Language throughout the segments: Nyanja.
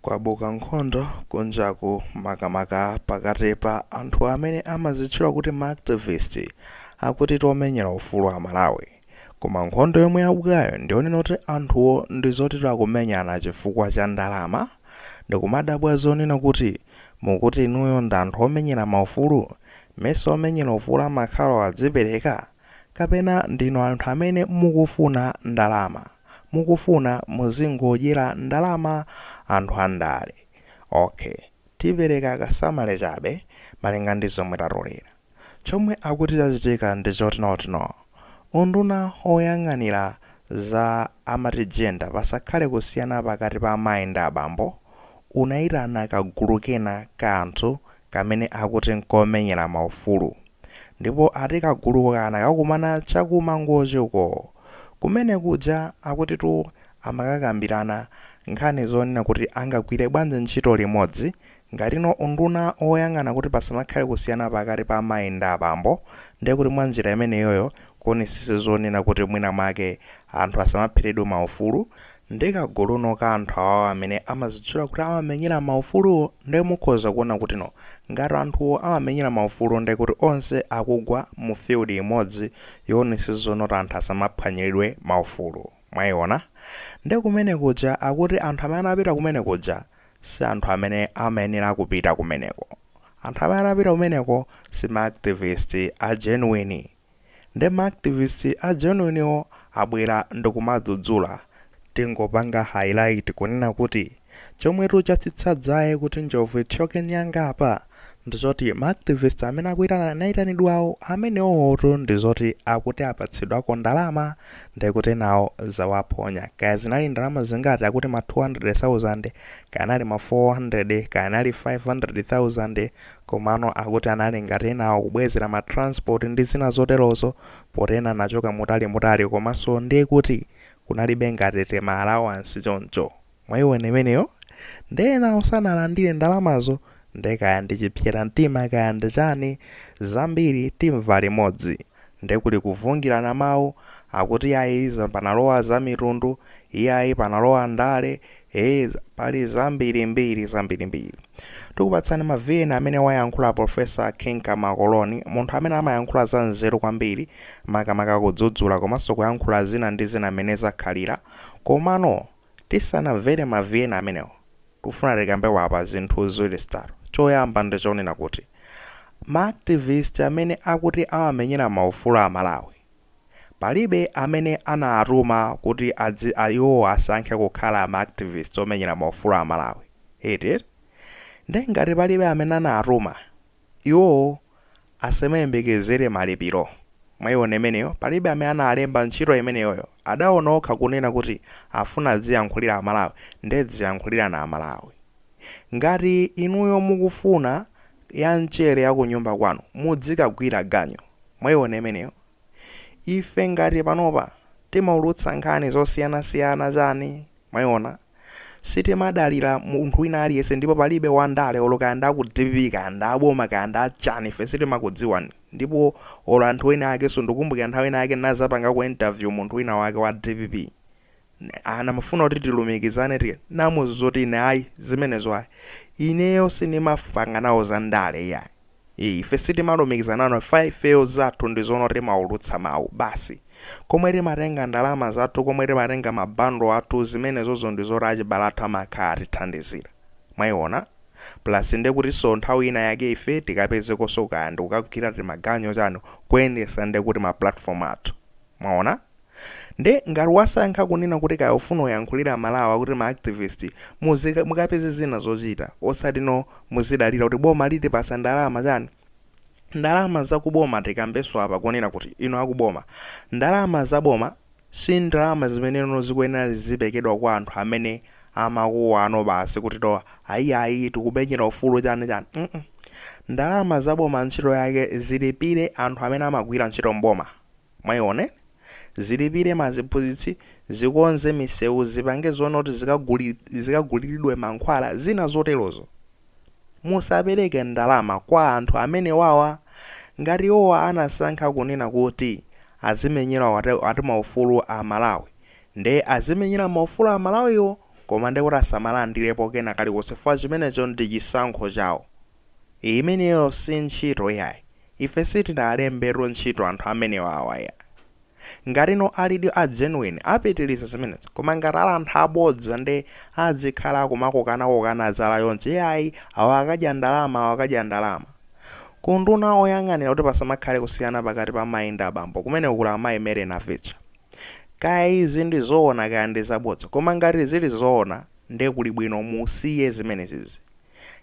Kwabuka nkhondo kunjaku makamaka pakati pa anthu amene amazitchula kuti ma activist akutitu omenyera ufulu a Malawi. Koma nkhondo yomwe yabukayo ndiyonena kuti anthuwo ndizoti akumenyana chifukwa cha ndalama. Ndikumadabwa zonena kuti mukuti inuyo ndi anthu omenyera maufulu? Mesa omenyera ufulu amakhala odzipereka? Kapena ndinu anthu amene mukufuna ndalama? Mukufuna muzingodyera ndalama anthu andale? Ok. Tipereka ka summary chabe malinga ndi zomwe tatolera. Chomwe akuti chachitika ndi chotino unduna oyang'anira za amati gender pasakhale kusiyana pakati pa amayi ndi abambo unaitana kagulu kena ka anthu kamene akuti n'komenyera maufulu. Ndipo ati kagulu kanakakumana cha ku Mangochi uko. Kumene kuja akutitu amakakambirana nkhani zonena kuti angagwire bwanji ntchito limodzi ngatino unduna woyang'ana kuti pasamakhale kusiyana pakati pa amayi ndi abambo ndiye kuti mwa njira imeneyoyo kuonesesa zonena kuti mwina mwake anthu asamapheredwe maufulu Ndi kaguluno ka anthu awawo amene amazitchula kuti amamenyera ma ufuluwo nde mukhoza kuona kutino ngati anthuwo amamenyera ma ufulu nde kuti onse akugwa mu field imodzi yoonesesa zoti anthu asamaphwanyiridwe ma ufulu. Mwaiona? Nde kumene kuja akuti anthu amene anapita kumene kuja si anthu amene amayenera kupita kumeneko. Anthu amene anapita kumeneko si ma activist a genuine. Nde ma activist a genuine wo abwera ndikumadzudzula. Tingopanga highlight kunena kuti chomwetu chatsitsa dzaye kuti njovu ithyoke nyanga apa ndizoti ma activist amene akuitana naitanidwawo amenewotu ndizoti akuti apatsidwako ndalama ndekuti enawo zawaphonya. Kaya zinali ndalama zingati akuti ma 200,000, kaya anali ma 400, kaya anali 500,000, Komano akuti anali ngati enawo kubwezera ma transport ndi zina zoterozo poti ena anachoka mutali mutali komanso ndekuti kunalibe ngati tima allowance choncho mwaiwona imeneyo nde enawo sanalandire ndalamazo nde kaya ndichipsera mtima kaya ndichani zambiri timva limodzi. Nde kuli kuvungirana mawu, akuti yayi panalowa za mitundu, iyayi panalowa ndale, ee pali zambiri mbiri zambiri mbiri. Tikupatsani ma vn amene wayankhula Professor King Kamakoloni, munthu amene amayankhula za nzeru kwambiri, makamaka kudzudzula komanso kuyankhula zina ndi zina mmene zakhalira. Komano tisanamvere ma vn amenewo, Ndikufuna tikambepo apa zinthu ziwiri zitatu. Choyamba ndi chonena kuti ma activist amene akuti amamenyera maufulu a Amalawi, palibe amene anawatuma kuti adzi, iwowo asankhe kukhala ma activist omenyera maufulu a Amalawi, eti? Nde ngati palibe amene anawatuma, Iwo asamayembekezere malipiro. Mwaiona imeneyo? Palibe amene analemba ntchito imeneyoyo. Adaona okha kunena kuti afuna adziyankhulira Amalawi, ndiye dziyankhulirani Amalawi. Ngati inuyo mukufuna yamchere yakunyumba kwanu, mudzikagwira ganyu. Mwaiona imeneyo? Ife ngati panopa timaulutsa nkhani zosiyanasiyana chani? Mwaiona? Sitimadalira munthu wina aliyense ndipo palibe wandale olo kaya ndi aku dpp kaya ndi aboma kaya ndi achani ife sitimakudziwani ndipo olo anthu ena akenso ndikumbukira nthawi ina yake ndinazapangako interview munthu wina wake wa dpp ankafuna kuti tilumikizane tinamuuza zoti ine ayi zimenezo ayi ineyo sindimapanga nawo za ndale iyayi Ife sitimalumikizana nawo chifukwa ifeyo zathu ndi zonena kuti timaulutsa mau basi. Komwe timatenga ndalama zathu, komwe timatenga ma bundle athu zimenezozo ndizoti achibale athu amakhala atithandizira. Mwaiona? Plus ndekutinso nthawi ina yake ife tikapezekonso kaya ndikukagwira timaganyu chani, kuyendetsa ndekuti ma platform athu. Mwaona? Nde ngati wasankha kunena kuti kaya ufuna uyankhulire amalawi akuti ma activist, mukapeze zina zochita osati no muzidalira kuti boma litipasa ndalama chani? Ndalama za ku boma tikambeso apa kunena kuti inu aku boma, ndalama za boma si ndalama zimene no zikuyenera ziziperekedwa kwa anthu amene amakuwa no basi kuti no ayiayi tikumenyera ufulu chani chani mm ndalama za boma ntchito yake zilipire anthu amene amagwira ntchito m'boma. Mwaiona? Zilipire maaziphunzitsi, zikonze misewu, zipange zonena kuti zikaguliridwe mankhwala, zina zoterozo. Musapereke ndalama kwa anthu amenewawa. Ngati iwowa anasankha kunena kuti azimenyera ati maufulu a Amalawi, nde azimenyera maufulu a Amalawiwo koma ndekuti asamalandirepo kena kalikonse chifukwa chimenecho ndi chisankho chawo. Imeneyo si ntchito iyayi. Ife sitinawalembetu ntchito anthu amenewawa iyayi. Ngati no alidi a genuine apitiliza zimenezo koma ngati ali anthu abodza nde azikhala akumakokana kokana zala chonchi yayi awa akadya ndalama awa akadya ndalama. Ku unduna oyang'anira kuti pasamakhale kusiyana pakati pa mayi ndi abambo kumeneko kuli amayi Mary Navicha. Kaya izi ndi zoona kaya ndi zabodza koma ngati zili zoona nde kuli bwino musiye zimenezizi.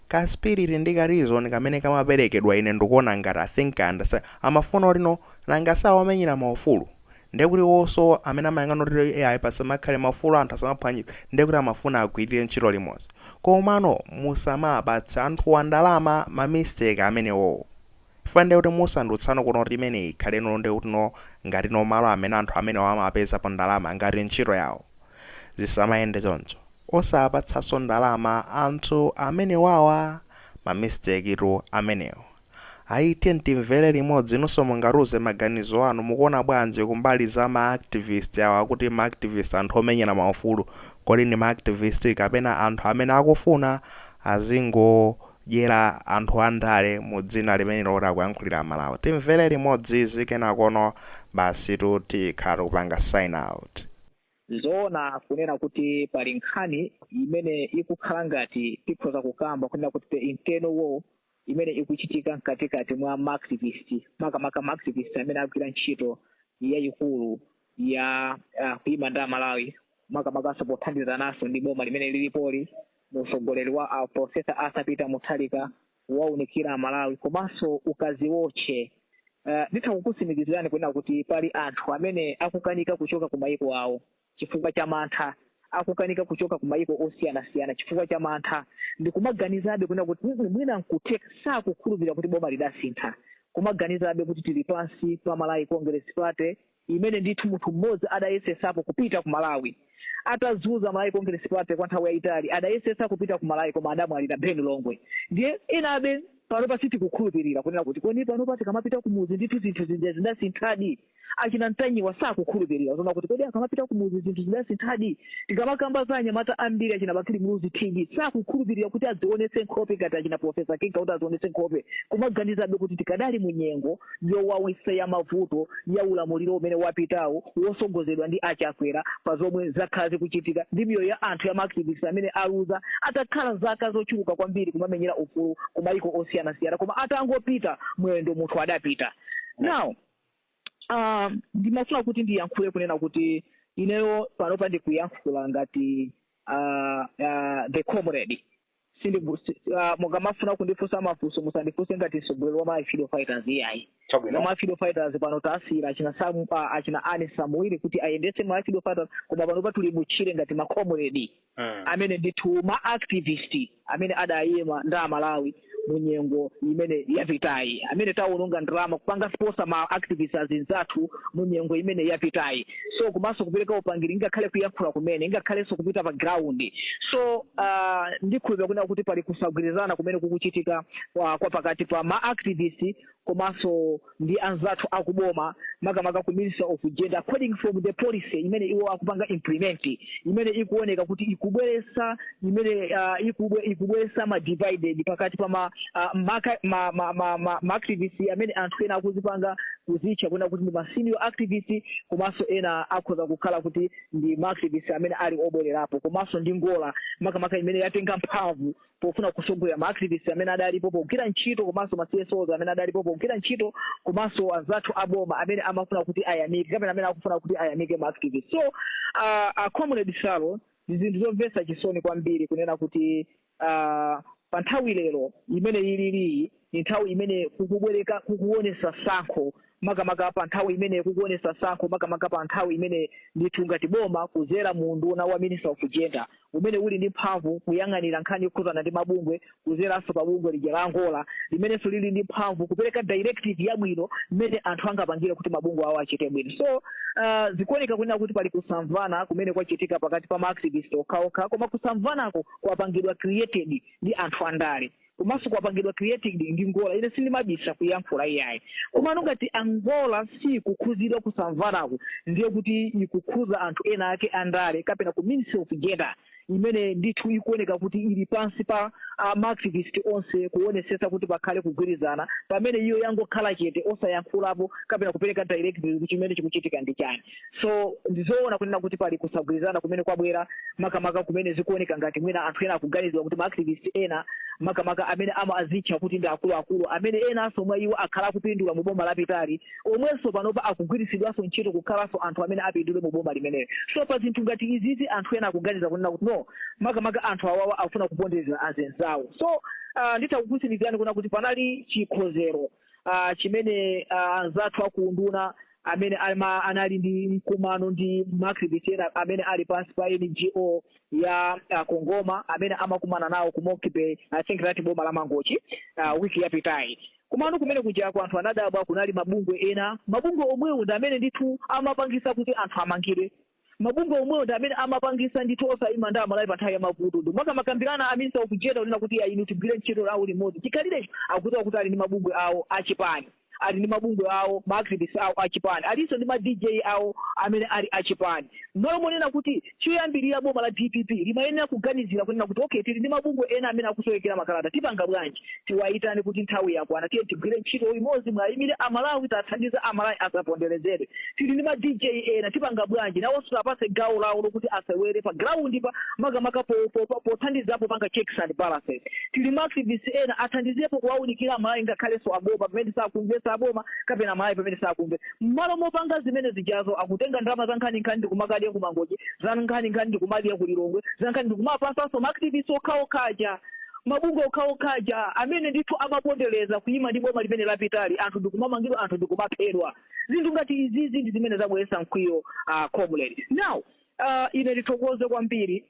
Ka spirit ndi ka reason kamene kamaperekedwa ine ndukuona ngati I think I understand amafuna kuti no nanga si awomenyera ma ufulu ndiye kuti iwoso amene amayang'ana kuti eh ayi pasamakhale ma ufulu anthu asamaphwanyiridwe ndiye kuti amafuna agwirire ntchito limodzi komano musamapatse anthuwa ndalama ma mistake amenewowo Chifukwa ndiye kuti musandutsano kuno kuti imeneyi ikhale no ndiye kuti no ngati no malo amene anthu amenewa amapezapo ndalama ngati ntchito yawo. Zisamayende choncho. Osawapatsanso ndalama anthu amenewawa. Ma mistake tu amenewo. Ayi tiyeni timvere limodzi inunso mungatiuze maganizo anu mukuona bwanji kumbali za ma activist awa kuti ma activist anthu omenyera maufulu. Kodi ndi ma activist kapena anthu amene akufuna azingo dyera anthu andale mu dzina limene loti akuyankhulira amalawi. Timvere limodzi izi kenakono basitu tikhala tikupanga sign out. Nzoona kunena kuti pali nkhani imene ikukhala ngati tikhoza kukamba kunena kuti the internal war imene ikuchitika mkatikati mwa ma activist makamaka ma activist amene agwira ntchito yayikulu ya kuyima ndi amalawi makamakanso pothandizananso ndi boma limene lilipoli. Muutsogoleri wa a Professor Arthur Peter Mutharika waunikira Amalawi komanso ukaziotche. Nditha kukutsimikizirani kunena kuti pali anthu amene akukanika kuchoka ku mayiko awo chifukwa cha mantha, akukanika kuchoka ku mayiko osiyanasiyana chifukwa cha mantha ndi kumaganizabe kunena kuti mm mwina n'kutheka, sakukhulupirira kuti boma lidasintha, kumaganizabe kuti tili pansi pa Malawi Congress Party. imene ndithu munthu mmodzi adayesetsapo kupita ku Malawi atadzudzula Malawi Congress Party kwa nthawi yayitali adayesetsa kupita ku Malawi koma adamwalira Ben Longwe ndiye enabe panopa sitikukhulupirira kunena kuti kodi panopa tikamapita kumudzi ndithu zinthu zija zidasinthadi achina Ntanyiwa sakukhulupirira zona kuti kodi akamapita kumudzi zinthu zidasinthadi tikamakamba za anyamata ambiri achina bakili muluzi tv sakukhulupirira kuti adzionetse nkhope ngati achina profesa kinga kuti adzionetse nkhope kumaganizabe kuti tikadali mu nyengo yowawisa ya mavuto ya ulamuliro umene wapitawo wosogozedwa ndi achakwera pa zomwe zakhala zikuchitika ndi miyoyo ya anthu ya maaktivisti amene aluza atakhala zaka zochuluka kwambiri kumamenyera ufulu ku mayiko osiyanasiyana koma atangopita mwendo munthu adapita now Ah, ndimafuna kuti ndiyankhule kunena kuti ineyo panopa ndikuyankhula ngati ah, ah, the comrade Sindiku- si- ah, mukamafuna kundifunsa mafunso musandifunse ngati mtsogoleri wa ma freedom fighters iyayi ma freedom fighters pano tasiyira achina Sam- ah, achina ani samuili kuti ayendetse ma freedom fighters koma panopa tili mutchire ngati ma comrade mm. amene ndithu ma activist amene adayima ndi amalawi mu nyengo imene yapitayi amene tawononga ndalama kupanga sponsor ma activist azinzathu mu nyengo imene yapitayi so komanso kupereka upangiri ngakhale kuyankhula kumene ngakhalenso kupita pa ground so uh, ndikhulupira kunena kuti pali kusagwirizana kumene kukuchitika kwa, kwa pakati pa ma activist komanso ndi anzathu a ku boma makamaka ku minister of gender according from the policy imene iwo akupanga implement imene ikuoneka kuti ikubweretsa imene uh, ikubwe, ikubweretsa ma divided pakati pa ma, uh, maka, ma, ma, ma, ma, ma activist amene anthu ena akuzipanga kuzitcha kunena kuti ndi ma senior activist komanso ena akhoza kukhala kuti ndi ma activist amene ali obwererapo komanso ndi NGORA makamaka imene yatenga mphamvu pofuna kusogolera ma activists amene adalipo pogwira ntchito komanso ma CSOs amene adalipo pogwira ntchito komanso anzathu aboma amene amafuna kuti ayamike kapena amene akufuna kuti ayamike ma activists so uh, a comrade salo ndi zinthu zomvetsa chisoni kwambiri kunena kuti uh, pa nthawi lero imene ililiyi Ni nthawi imene kukubweleka kukuonesa sankho makamaka pa nthawi imene kukuonesa sankho makamaka pa nthawi imene ndithu ngati boma kuzera mu unduna wa Minister of Gender umene uli ndi mphamvu kuyang'anira nkhani yokhuzana ndi mabungwe kuzeranso pa bungwe lija la NGORA limenenso lili ndi mphamvu kupeleka directive yabwino mmene anthu angapangire kuti mabungwe awo achite bwino. So uh, zikuoneka kunena kuti pali kusamvana kumene kwachitika pakati pa ma activist okhaokha koma kusamvanako kwapangidwa created ndi anthu andale. komanso kwapangidwa created ndi NGORA ine sindimabisa kuyankhula iyayi komano ngati a NGORA sikukhuzidwa kusamvanako ndiye kuti ikukhuza anthu ena ake andale kapena ku ministry of gender imene ndithu ikuoneka kuti ili pansi pa ma activist onse kuonesesa kuti pakhale kugwirizana pamene iyo yangokhala chete osayankhulapo kapena kupereka direct chimene chikuchitika ndi chani so ndizoona kunena kuti pali kusagwirizana kumene kwabwera makamaka kumene zikuoneka ngati mwina anthu ena akuganizira kuti ma activist ena makamaka amene amazitcha kuti ndi akuluakulu amene enanso mwa iwo akhala akupindula mu boma lapitali omwenso panopa akugwiritsidwanso ntchito kukhalanso anthu amene apindule mu boma limeneli so pa zinthu ngati izizi anthu ena akuganiza kunena kuti no makamaka anthu awawa afuna kupondereza azinzawo so uh, nditha kukusimikizirani kunena kuti panali chikonzero uh, chimene uh, anzathu akuunduna amene ama, anali ndi mkumano ndi ma activist ena amene ali pansi pa NGO ya uh, CONGOMA amene amakumana nawo ku Monkey Bay i think that boma la Mangochi uh, wiki yapitayi komano kumene kujako anthu anadabwa kunali mabungwe ena mabungwe omwewo ndi amene ndithu amapangisa kuti anthu amangidwe Mabungwe omwewo ndi amene amapangisa ndithu osaima ndi amalawi panthawi yamavuto ndi makamaka a minister of gender kunena kuti inu tigwile ntchito awo limodzi chikhalirecho akuziwa kuti ali ndi mabungwe awo achipani ali ndi mabungwe awo ma activist awo achipani alinso ndi ma dj awo amene ali achipani mmalo monena kuti choyambilira boma la dpp limayenera kuganizira kunena kuti okay tili ndi mabungwe ena amene akusowekera makalata tipanga bwanji tiwayitane kuti nthawi yakwana tiye tigwire ntchito limodzi muwayimire amalawi tathandiza amalawi asaponderezedwe tili ndi ma dj ena tipanga bwanji nawonso tiwapase gawo lawo lokuti asewere pa ground pa makamaka po- po- po- pothandizapo kupanga checks and balances tili ma activists ena athandizepo kuwawunikira amalawi ngakhalenso aboma pamene sakumvesa aboma kapena amalawi pamene sakumva mmalo mopanga zimene zijazo akutenga ndalama za nkhani nkhani ndikumakadya kumangochi za nkhani nkhani ndikumakadya kulilongwe za nkhani ndikumapasanso ma activists okhaokhaja mabungwe okhaokha aja amene ndithu amapondereza kuima ndi boma limene lapitali anthu ndikumamangidwa anthu ndikumaphedwa zinthu ngati izizi ndi zimene zabweretsa mkwiyo uh, comrade now uh, ine ndithokoze kwambiri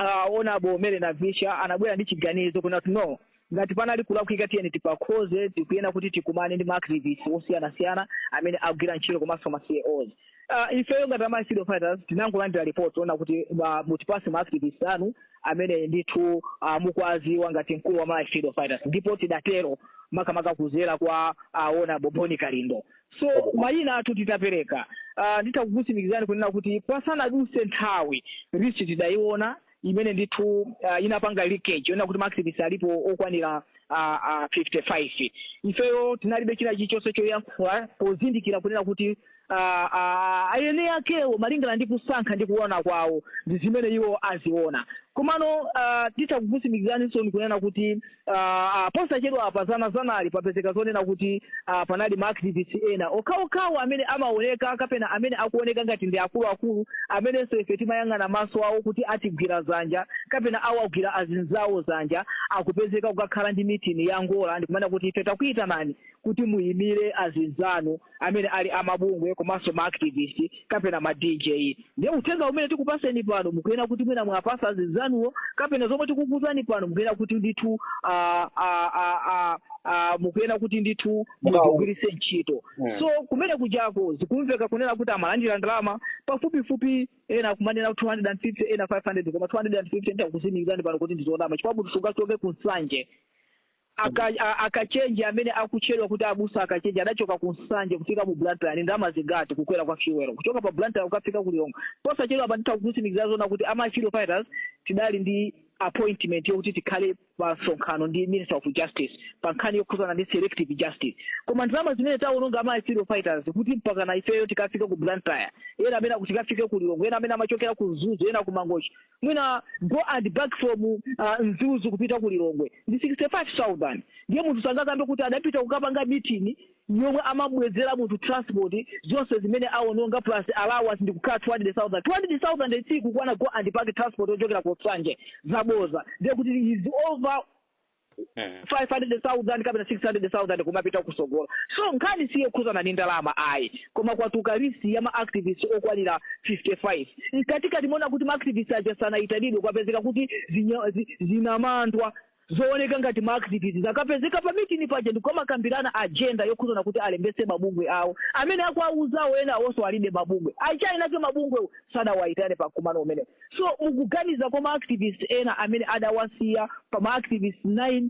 uh, honourable mele na visha anabwera ndi chiganizo kunena kuti no ngati panali kulakwika tiyeni tipakonze tikuyenera kuti tikumane ndi maactivist osiyanasiyana amene agwira ntchito komanso ma CEOs Ah, ifeyo ngati a ma freedom fighters tinangolandira report yonena kuti ah, mutipase ma activist anu amene ndithu ah, mukuwaziwa ngati mkulu wa ma freedom fighters ndipo tidatero makamaka kuzera kwa a honourable bon kalindo so mayina athu titapereka ah, nditha kukutsimikizani kunena kuti pasanaduse nthawi list tidayiona imene ndithu uh, inapanga leakage yonena kuti maactivist alipo okwanira uh, uh, 55 ifeyo tinalibe china chilichonse choyankhula pozindikira kunena kuti uh, uh, ayenera akewo malingana ndi kusankha ndi kuona kwawo ndi zimene iwo aziona komano uh, titha kukusimikizaninso kunena kuti a Posachedwapa dzana dzanali papezeka zonena kuti a panali ma activists ena okhaokhawo amene amaoneka kapena amene akuoneka ngati ndi akuluakulu amenenso ife timayang'ana maso awo kuti atigwira dzanja kapena awagwira azinzawo dzanja akupezeka kukakhala ndi meeting ya a Ngola ndikumana kuti ife takuyitanani kuti muyimire azinzanu amene ali a mabungwe komanso ma activist kapena ma DJ. Ndiye uthenga umene tikupaseni pano mukuyenera kuti mwina muwapasa azinzanuwo kapena zomwe tikukuuzani pano mukuyenera kuti ndithu ah, ah, ah, ah, ah, mukuyenera kuti ndithu muzigwiritse ntchito. Mm. So kumene kujako zikumveka kunena kuti amalandira ndalama pafupifupi ena kumanena 250 ena 500 koma 250 ndakutsimikizani pano kuti ndizonama chifukwa kuti sungachoke ku nsanje Aka, a, a Kachenje amene akutchedwa kuti abusa a Kachenje adachoka ku Nsanje kufika mu Blantyre ndi ndalama zingati kukwera kwa fuel kuchoka pa Blantyre kukafika ku Lilongwe? Posachedwapa nditha kukutsimikizira zoona kuti a Malawi Freedom Fighters tidali ndi appointment yokuti tikhale pa msonkhano ndi Minister of Justice pa nkhani yokhuzana ndi selective justice. Koma ndalama zimene tawononga a Malawi Freedom Fighters kuti mpakana ifeyo tikafike ku Blantyre, ena amene akuti tikafike ku Lilongwe, ena amene amachokera ku Mzuzu, ena ku Mangochi, mwina go and back from uh, Mzuzu kupita ku Lilongwe ndi 65000 ndiye munthu sangakambe kuti adapita kukapanga meeting yomwe amabwezera munthu transport zonse zimene awononga plus allowance ndi kukhala 200000 200000 sikukwana go and back transport yochokera ku Nsanje zaboza ndiye kuti is over Mhm. 500,000 kapena 600,000 kumapita kutsogolo so nkhani siyokhuzana ndi ndalama ayi koma kwatuluka list ya maactivist okwanira 55 mkatikatimo mwaona kuti maactivist aja sanayitanidwe kwapezeka kuti zinya- zi- zinamandwa zooneka ngati maactivist zakapezeka pa mitini paja ndikumakambirana agenda yokhuzana kuti alembese mabungwe awo amene akuwauzawo ena awonso alibe mabungwe achainake mabungwewo sadawayitane pa mkumano umenewo So mukuganiza kwa ma activist ena amene adawasiya pa ma activist 9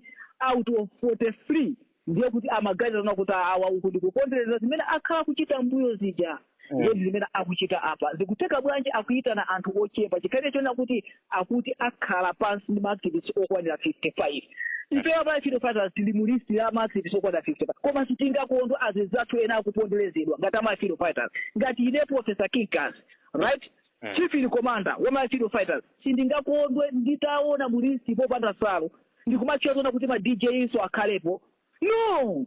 out of 43 ndiye kuti amaganiza zona kuti awa uku ndikupondereza zimene akhala akuchita mbuyo zija ndiye ndi zimene akuchita apa zikutheka bwanji akuyitana anthu ochepa chikhalirecho choona kuti akuti akhala pansi ndi ma activist okwanira 55 ife a Malawi Freedom Fighters tili mu list ya ma activist okwanira 55 koma sitingakondwe azizathu ena akuponderezedwa ngati a Malawi Freedom Fighters ngati ine professor kinkas right Chief in commander wa Malawi Freedom Fighters, sindingakondwe nditaona mu list popanda Salu ndikumatchula zoona kuti ma DJ nso akhalepo. No!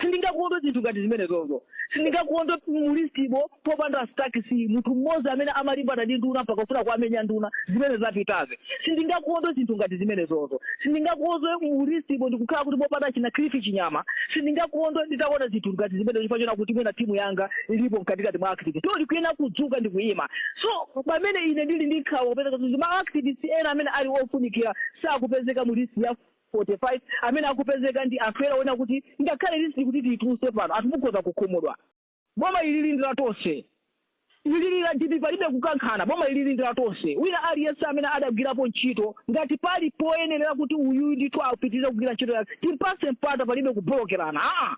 Sindingakondwe zinthu ngati zimenezozo. Sindingakondwe mu list-mo popanda Stack C, munthu mmodzi amene amalimbana ndi nduna mpaka kufuna kuwamenya nduna, zimene zapitazi. sindingakondwe zinthu ngati zimenezozo sindingakondwe mu list-mo ndikukhala kuti popanda achina Cliff Chinyama sindingakondwe nditaona zinthu ngati zimenezo chifukwa choona kuti mwina timu yanga ilipo mkatikati mwa activist so ndikuyenera kudzuka ndi kuyima so pamene ine ndili ndi nkhawa kupezeka kuti ma activist ena amene ali ofunikira sakupezeka mu list ya 45 amene akupezeka ndi anthu ena oona kuti ngakhale list kuti tiyituluse pano anthu mukhoza kukhumudwa Boma ilili ndi la tonse. Ilili la DPP palibe kukankhana. Boma ilili ndi la tonse. Wina aliyense amene adagwirapo ntchito ngati pali poyenerera kuti uyuyu ndithu apitirize kugwira ntchito yake timpatse mpata palibe kubolokerana aa.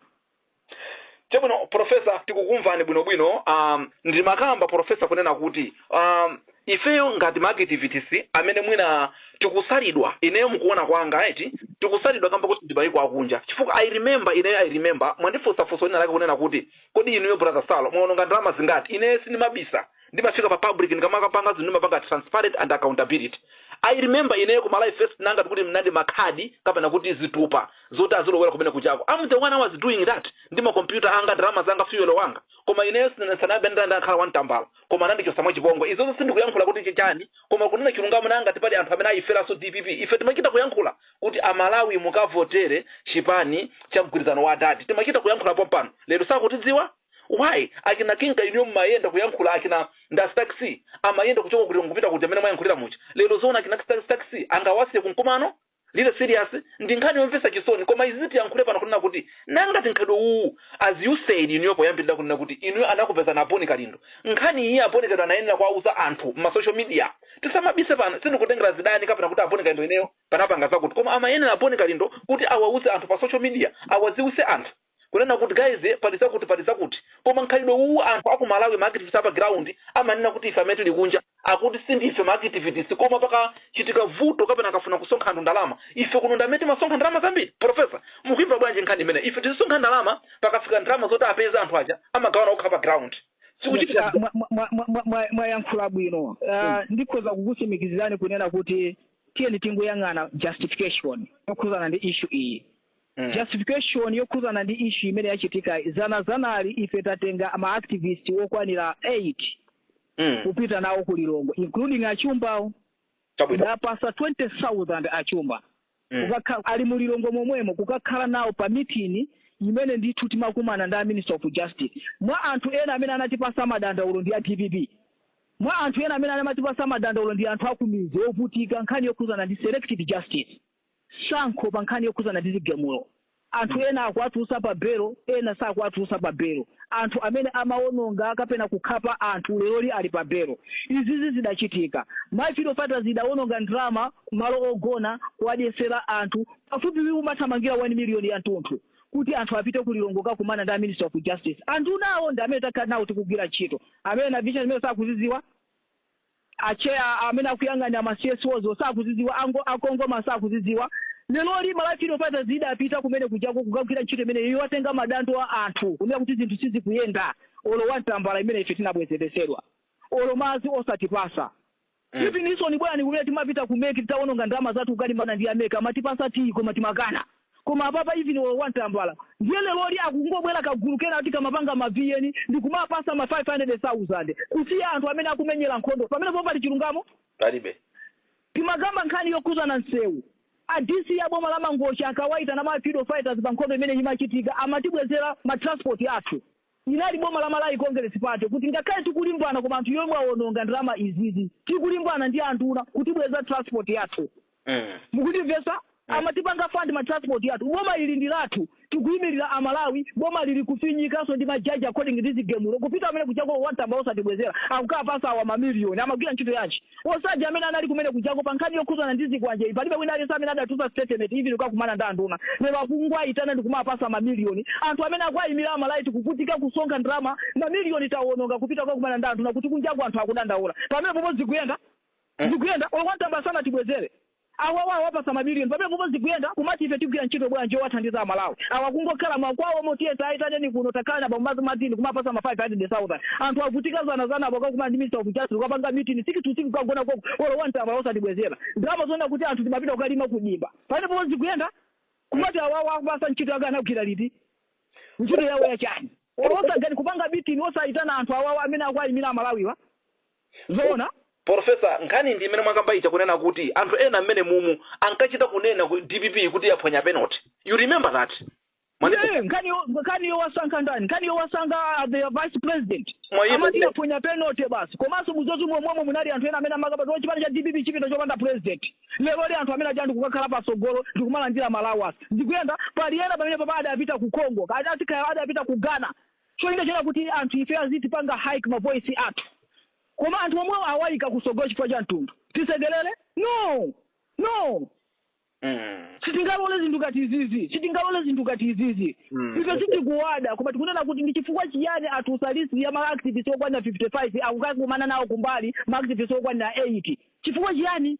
Chabwino professor tikukumvani bwinobwino, aah ndimakamba professor kunena kuti aah. ifeyo ngati ma activists amene mwina tikusalidwa ineyo mukuona kwanga eti tikusalidwa kamba koti tili maiko akunja chifukwa i remember ineyo i remember mwandifunsa funso lina lake kunena kuti kodi inuyo brother salo mwaononga ndalama zingati ineyo sindimabisa ndimafika pa public ndikamakapanga zinthu ndimapanga transparent and accountability i remember ineyo ku malawi first nanga kuti ndi makhadi kapena kuti zitupa zoti azilowera kumene kujako i'm the one who was doing that ndi makompyuta anga ndalama zanga fuel wanga koma ineyo sinanabe ndakhala wantambala koma anandichosa mwachipongwe izozo sindikuyankhula kuti chichani koma kunena chilungamo nanga ngati pali anthu amene ayiferaso dpp ife timachita kuyankhula kuti amalawi mukavotere chipani cha mgwirizano wa adadi timachita kuyankhula pompano lero sakutidziwa why akina kinga inuyo mumayenda kuyankhula akina Anastanzia amayenda kuchoka kuti kupita kuti amene mwayankhulira muja lero zoona akina stanzi angawasiye kumkumano Really serious ndi nkhani yomvesa chisoni koma izizi tiyankhule pano kunena kuti nanga ngati mkhalidwe uwu as you said inuyo poyambilira kunena kuti inuyo anakupezani a Boni Kalindo nkhani iyi a Boni Kalindo anayenera kuwauza anthu mma social media tisamabise pano sindikutengera zidani kapena kuti a Boni Kalindo ineyo tinapanga zakuti koma amayenera a Boni Kalindo kuti awauze anthu pa social media awadziwise anthu Kunena kut guys pali zakut pali zakut koma nkhalidwe uwu anthu aku Malawi ma activist apa ground amanena kuti ife amene tili kunja akuti sindife ma activist koma pakachitika vuto kapena akafuna kusonkha ndalama ife kuno ndi amene timasonkha ndalama zambiri professor mukuimva bwanji nkhani imeneyi ife tizisonkha ndalama pakafika ndalama zoti apeze anthu aja amagawana okha pa ground sikuchitika Mwa- mwa- mwa- mwa- mwa- mwa- mwayankhula bwino Ah, ndikhoza kukutsimikizirani kunena kuti tiyeni tingoyang'ana justification yokhuzana ndi issue iyi Mm. justification yokhuzana ndi issue imene yachitika zana zanali ife tinatenga ma activist okwanira 8 Mm. kupita nawo ku lilongwe including achumbawo Chabwino. ndawapasa 20000 achumba Mm. kukakhala ali mu lilongwe momwemo kukakhala nawo pa meeting imene ndithu timakumana ndi a minister of justice mwa anthu ena amene anatipasa madandaulo ndi a dpp mwa anthu ena amene amatipasa madandaulo ndi anthu akumizi ovutika nkhani yokhuzana ndi selective justice chisankho pa nkhani yokhudzana ndi zigamulo. Anthu ena akuwatulutsa pa belo, ena sakuwatulutsa pa belo. Anthu amene amawononga kapena kukhapa anthu leroli ali pa belo. Izizi zidachitika. Malawi freedom fighters idawononga ndalama ku malo ogona kuwadyetsera anthu pafupi imathamangira 1 million ya mtunthu kuti anthu apite ku Lilongwe kukakumana ndi a Minister of Justice. Andunawo ndi amene takhala nawo tikugwira ntchito. Amene ena vision imeneyo sakuzidziwa. A chair amene akuyang'anira ma CSOs wo sakuzidziwa, a CONGOMA sakuzidziwa. Leroli Malawi Freedom Fighters idapita kumene kujako kukagwira ntchito imeneyo yowatenga madando a anthu kunena kuti zinthu sizikuyenda olo one tambala imene ife tinabwezeretsedwa olo madzi osatipasa. Even inu sonyo bwanji kumene timapita ku mec tawononga ndalama zathu kukalimbana ndi a mec amatipasa tiyi koma timakana. Koma apapa even olo one tambala ndiye leloli akungobwela kagulu kena ati kamapanga ma VN ndikumapasa ma 500,000 kusiya anthu amene akumenyela nkhondo pamenepo pali chilungamo? Palibe. Timakamba nkhani yokhuzana nsewu, a DC a boma la Mangochi ankawaitana ma freedom fighters pa nkhondo imene imachitika amatibwezela ma transport athu. Inali boma la Malawi Congress Party kuti ngakhale tikulimbana koma anthu yomwe awononga ndalama izizi tikulimbana ndi anduna kutibwezera transport yathu mukundimvesa amatipanga fund ma transport athu boma ili ndi lathu tikuimilira a Malawi bomali likufinyikanso ndi ma judge according ndi zigemulo kupita kumene kujako olo one tambala osatibwezera akukapasa awa ma million amagwira ntchito yanji Osaja amene anali kumene kujako pa nkhani yokhuzana ndi zikwanjeyi palibe wina aliyense amene adatulutsa statement even kukakumana ndi anduna. Lero akungwaitana ndikumapasa ma million. Anthu amene akuwaimira a Malawi tikuvutika kusonkha ndalama ma million tawononga kupita kukakumana ndi anduna kuti kunjaku anthu akudandaula. Pamene popo zikuyenda? Zikuyenda? Olo one tambala sanatibwezere. Awawa awapasa ma million pamene popo zikuyenda kumati ife tigwira ntchito bwanji yowathandiza amalawi awa kungokhala makwawo mo tiyese ayitaneni kuno takhara na Bambo azimatini kumapasa ma 500,000 anthu avutika dzana dzana apa kukakumana ndi minister of justice kukapanga mitini six to six kukagona koko olo one tambala osatibwezera ndalama zonena kuti anthu timapita kukalima ku dimba pamene popo zikuyenda kumati awawa akupasa ntchito yake anagwira liti ntchito yawo ya chani olo osangani kupanga mitini osayitana anthu awawa amene akuwayimira amalawiwa Zoona? Porofesa, nkhani ndi imene mwakamba ija kunena kuti anthu ena amene mumu ankachita kunena ku dpp kuti yaphonya penalty. You remember that? Mwandimvetsa? nkhaniyo wasankha ndani? Nkhaniyo wasankha the vice president. Amati yaphonya penalty basi. Komanso muzozi momwe munali anthu ena amene amakamba kuti chipani cha DPP chipita chopanda president. Lero li anthu amene aja ndikukakhala pasogolo ndikumalandira ma allowance. Ndikuyenda pali ena pamenepa adapita ku Congo. Kaya adapita ku Ghana. cholinga chonena kuti anthu ifeyo azitipanga hike ma voice athu koma anthu omwewo awaika kusogolo chifukwa cha mtundu tisekelele? no no sitingalole zinthu ngati izizi sitingalole zinthu ngati izizi ife sitikuwada koma tikunena kuti ndi chifukwa chiyani atulutsa list ya ma activist okwanira 55 akukakumana nawo kumbali ma activist okwanira 8 chifukwa chiyani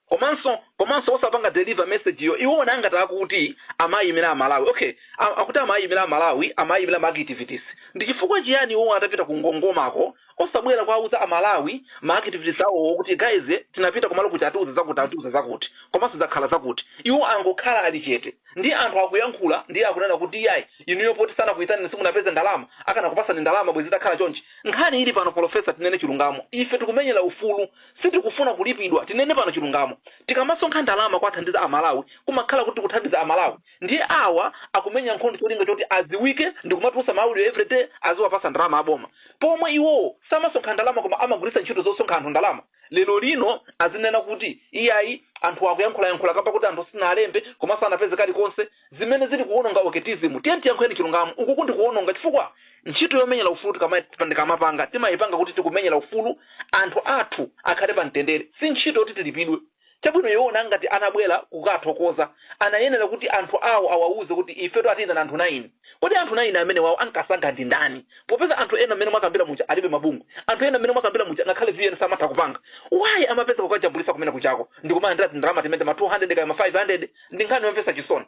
komanso komanso osapanga deliver message yo iwowo ngati akuti amayimila amalawi ok a, akuti amayimila amalawi amayimila ma activities ndichifukwa chiyani iwowo atapita kungongomako osabwela kwauza amalawi ma activities awowo kuti guys tinapita kumalo kuti atiuza zakuti atiuza zakuti komanso zakhala zakuti iwo angokhala ali chete ndi anthu akuyankhula ndiye akunena kuti iyayi inuyo poti sanakuyitaneni simunapeze ndalama akanakupasani ndalama bwezi takhala chonchi nkhani ili pano polofesa tinene chilungamo ife tikumenyela ufulu Sitikufuna kulipidwa, tinene pano chilungamo. Tikamasonkha ndalama kuwathandiza a Malawi kumakhala kuti tikuthandiza a Malawi. Ndiye awa akumenya nkhondo cholinga choti adziwike ndikumatulutsa ma audio everyday aziwapatsa ndalama a boma. Pomwe iwowo samasonkha ndalama koma amagwiritsa ntchito zosonkha anthu ndalama. Lero lino azinena kuti iyayi anthuwa akuyankhula yankhula kamba koti anthu sitinawalembe komanso sanapeze kalikonse. zimene zili kuwononga activism tiyeni tiyankhuleni chilungamo uku ndi kuwononga chifukwa ntchito yomenyera ufulu tikamai tikamapanga timaipanga kuti tikumenyera ufulu anthu athu akhale pa mtendere si ntchito yoti tilipidwe chabwino iwowo ngati anabwera kukathokoza anayenera kuti anthu awo awauze kuti ifetu atiyitana anthu 9 kodi anthu 9 amenewawo anasankha ndi ndani popeza anthu ena mmene mwakambira muja alibe mabungwe anthu ena mmene mwakambira muja ngakhale vn samatha kupanga why amapezeka kukajambulisa kumene kujako ndikumalandira tindalama timene ma 200 kaya ma 500 Ndi nkhani yomvetsa chisoni.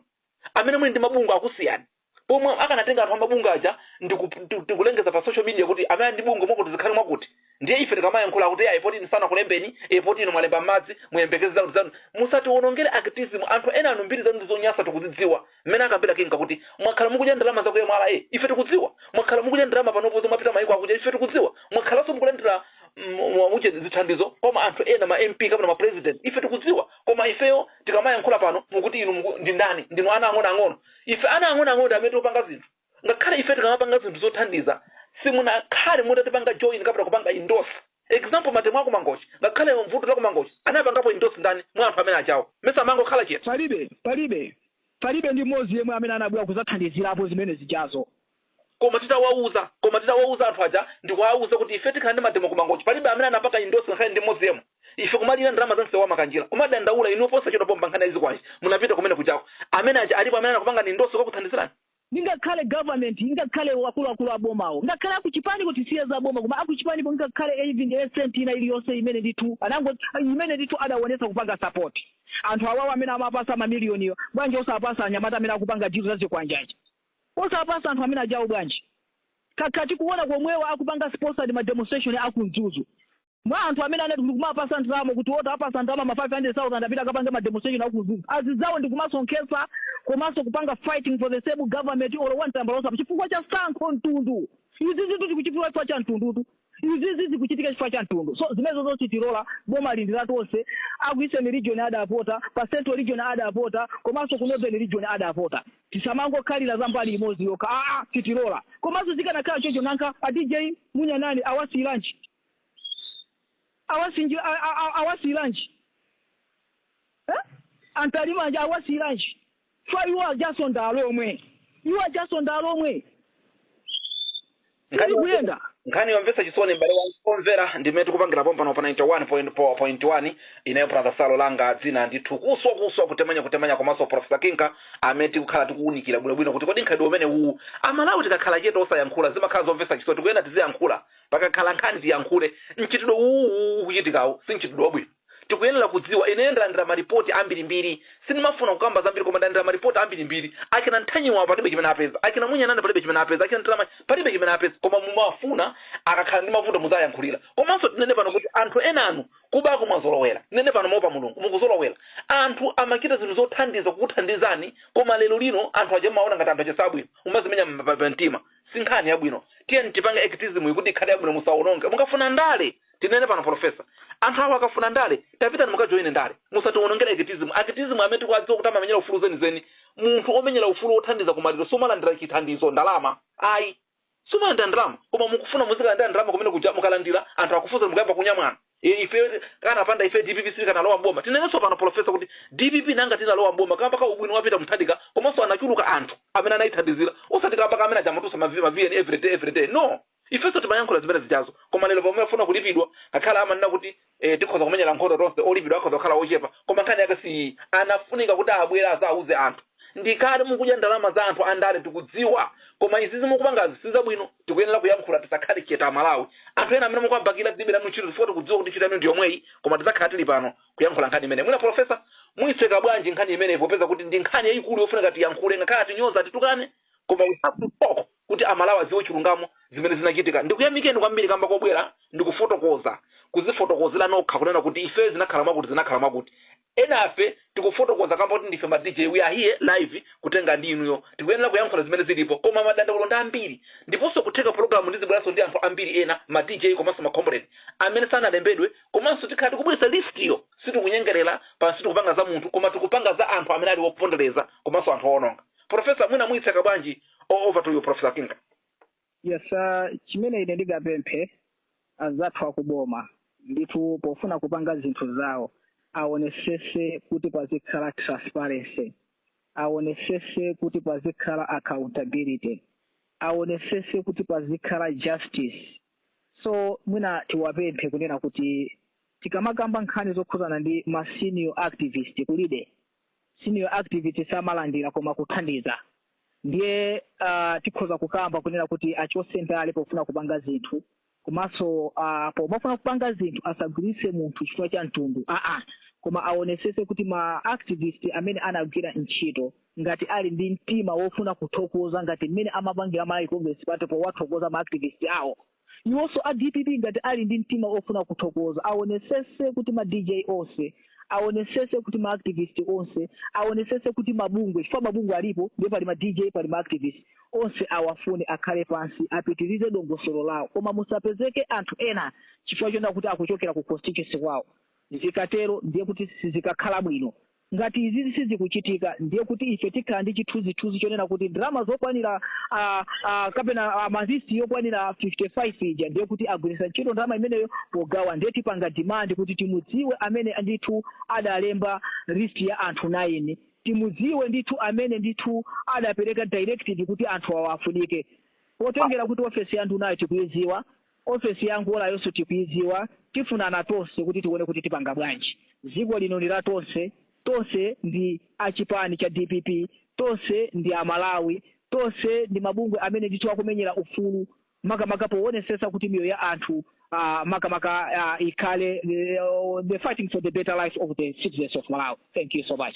Amene muli ndi mabungwe akusiyani. Pomwe akanatenga anthu a mabungwe aja ndi ku, ndi, ndi kulengeza pa social media kuti amene ali ndi bungwe mwakuti zikhale mwakuti. Ndiye ife tikamayankhula akuti ayi poti inu sanakulembeni, e poti inu mwalemba m'madzi, muyembekeze zakuti zanu. Musatiwonongere activism. Anthu enanu mbiri zanu ndi zonyansa tikuzidziwa. Mmene akambira King Kakuti, mwakhala mukudya ndalama za ku mra, ife tikudziwa. Mwakhala mukudya ndalama panopo zomapita mayiko akunja, ife tikudziwa. Mwakhalanso mukulandira mm, mwa- muche zithandizo kwa ma anthu ena ma MP kapena ma president, ife tikudziwa. Koma ifeyo tikamayankhula pano mukuti inu muku, ndi ndani ndinu ana ang'onoang'ono ife ana ang'onoang'ono ndi amene tikupanga zinthu ngakhale ife tikamapanga zinthu zothandiza simunakhale mutatipanga join kapena kupanga endorse example mademo a ku Mangochi ngakhale vuto la ku Mangochi anapangapo endorse ndani mwa anthu amene ajawo mesa amangokhala chete palibe palibe palibe ndi mmodzi yemwe amene anabwera kuzathandizirapo zimene zijazo Koma titawauza koma titawauza anthu aja ndikuauza kuti ife tikhala ndi mademo ku Mangochi palibe amene anapanga endorse ngakhale ndi mmodzi yemwe. Ife kumalira ndalama za msewu wa Makanjira kumadandaula inuyo posachedwa pompa nkhani ya zikwanje munapita kumene kujako. Amene aja alipo amene anakupangani endorse kukakuthandizirani? Ndi ngakhale government ngakhale akuluakulu a bomawo ngakhale a kuchipaniko tisiye za boma koma a kuchipaniko ngakhale even a cent ina iliyonse imene ndithu anango imene ndithu adaonetsa kupanga support anthu awawa amene amawapasa mamiliyoniwo bwanji osawapasa anyamata amene akupanga deal za zikwanje aja? Osawapasa anthu amene ajawo bwanji? Takhala tikuwona komweko akupanga sponsor ma demonstration a ku Mzuzu. Mwa anthu amene anali ndikumawapasa ndalama kuti o tawapasa ndalama ma 500,000 apite akapange ma demonstration a ku Mzuzu, azidzawo ndikumasonkhetsa komanso kupanga fighting for the same government or wa mtambala osapanga chifukwa cha sankho, mtundu. Izizitu zikuchifukwa chifukwa cha mtundutu. izizi zikuchitika chifukwa cha mtundu so zimenezozo sitilola boma ili ndi la tonse aku eastern region adavota pa central region adavota komanso ku northern region adavota tisamangokhalira za mbali imodzi yokha aa sitilola komanso zikanakhala choncho nanga a dj munya nani awasiyiranji awasinji a- a- a- awasiyiranji Eh? a Ntalimanja awasiyiranji chifukwa iwo ajanso ndi alomwe iwo ajanso ndi alomwe nkhani sizikuyenda nkhani yomvetsa chisoni m'bale womvera ndimene tikupangira pompano pa 91.1 ineyo brother salo langa dzina ndithu kuswa kuswa kutemanya kutemanya komanso profesa kinka amene tikukhala tikuwunikira bwinobwino kuti kodi nkhalidwe umene uwu amalawi tikakhala chete osayankhula zimakhala zomvetsa chisoni tikuyenera tiziyankhula pakakhala nkhani tiyankhule mchitidwe uwu ukuchitikawo si mchitidwe wabwino Tikuyenela kudziwa, ineyo ndalandila ma report ambilimbili, sindimafuna kukamba zambili koma ndalandila ma report ambilimbili, achina Ntanyiwawa palibe chimene apeza, achina Munyanane palibe chimene apeza, achina Ntiramanya palibe chimene apeza, koma mumafuna akakhala ndi mavuto muziayankhulila, komanso tinene pano kuti anthu enanu kubako mwazolowela, tinene pano moopa Mulungu mukuzolowela, anthu amachita zinthu zothandiza kukuthandizani koma lero lino anthu aja mumawaona ngati anthu aja sabwino mumazimenya pa mtima, sinkhani yabwino, tiyeni tipange activism kuti ikhale yabwino musaononge, mukafuna ndale Tinene pano polofesa. Anthu awa akafuna ndale, tapitani mukajoine ndale. Musatiwonongere activism. Activist amene tikuwadziwa kuti amamenyera ufulu zenizeni, munthu omenyera ufulu wothandiza kumaliro sumalandira chithandizo, ndalama, ayi. Sumalandira ndalama. Koma mukufuna muzikalandira ndalama kumene kuja mukalandira anthu akufunsani mukayamba kunyamwana. E, ife kanapanda ife dpp sitikanalowa m'boma. Tinenenso pano polofesa kuti dpp nanga tinalowa m'boma kamba ka ubwino wa Peter Mutharika komanso anachuluka anthu amene anayithandizira osati kamba ka amene aja amatumiza ma, ma VN everyday everyday. No! Ifenso timayankhula zimene zijazo koma lero pamene afuna kulipidwa ngakhale amanena kuti ee tikhoza kumenyera nkhondo tonse olipidwa akhoza kukhala ochepa koma nkhani yake siiyi anafunika kuti abwere azauze anthu ndikale mukudya ndalama za anthu andale tikudziwa koma izizi mukupangazi sizabwino tikuyenera kuyankhula tisakhale chete amalawi anthu ena amene mukuwabakira tilibe nanu ntchito chifukwa tikudziwa kuti ntchito yanu ndiyomweyi koma tizakhala tili pano kuyankhula nkhani imeneyi mwina polofesa muitseka bwanji nkhani imeneyi popeza kuti ndi nkhani yayikulu yofunika tiyankhule ngakhale atinyoza atitukane koma we have to talk Kuti amalawi adziwe chilungamo zimene zinachitika ndikuyamikeni kwambiri kamba kobwera ndikufotokoza, kuzifotokozela nokha kunena kuti ifeyo zinakhala mwakuti zinakhala mwakuti. Enafe tikufotokoza kamba koti ndife ma DJ we are here live kutenga ndi inuyo tikuyenera kuyankhula zimene zilipo koma madandaulo ndi ambiri ndiponso kutheka pologalamu ndizibweranso ndi anthu ambiri ena ma DJ komanso ma comrade amene sanalembedwe komanso tikhala tikubweretsa list yo sitikunyengerela pano sitikupanga za munthu koma tikupanga za anthu amene ali opondereza komanso anthu owononga. Professor mwina muyitseka bwanji O- over to you professor kinka yes uh, chimene ine ndingapemphe anzathu akuboma ndithu pofuna kupanga zinthu zawo aonesese kuti pazikhala transparency aonesese kuti pazikhala accountability aonesese kuti pazikhala justice so mwina tiwapemphe kunena kuti tikamakamba nkhani zokhuzana ndi ma senior activist kulibe senior activist samalandira koma kuthandiza ndiye uh, tikhoza kukamba kunena kuti achose ndale pofuna kupanga zinthu komanso uh, pomafuna kupanga zinthu asagwiritse munthu chifukwa cha mtundu aa koma aonesese kuti ma activist amene anagwira ntchito ngati ali ndi mtima wofuna kuthokoza ngati mmene amapangira malawi congress party powathokoza ma activist awo Iwonso a dpp ngati ali ndi mtima ofuna kuthokoza awonesese kuti ma Dj onse awonesese kuti ma activist onse awonesese kuti ma bungwe chifukwa ma bungwe alipo ndiye pali ma Dj pali ma activist onse awafune akhale pansi apitilize dongosolo lawo koma musapezeke anthu ena chifukwa chonena kuti akuchokera ku constituency kwawo zikatero ndiye kuti sizikakhala bwino Ngati izizi sizikuchitika ndiye kuti ife tikhala ndi chithunzithunzi chonena kuti ndalama zokwanira a, a, kapena a, ma list yokwanira 55 ija ndiye kuti agwiritsa ntchito ndalama imeneyo pogawa, ndiye tipanga demand kuti timudziwe amene ndithu adalemba list ya anthu 9, timudziwe ndithu amene ndithu adapereka directive kuti anthu awa afunike, potengera kuti ofesi ya ndunayo tikuidziwa, Ofesi ya Angolayoso tikuidziwa, tifunana tonse kuti tione kuti tipanga bwanji. Dziko lino ndi la tonse, tonse ndi a chipani cha dpp, tonse ndi a Malawi, tonse ndi mabungwe amene ndithu akumenyera ufulu makamaka powonesetsa kuti miyoyo ya anthu makamaka ikhale, we are fighting for the better life of the citizens of Malawi. Thank you so much.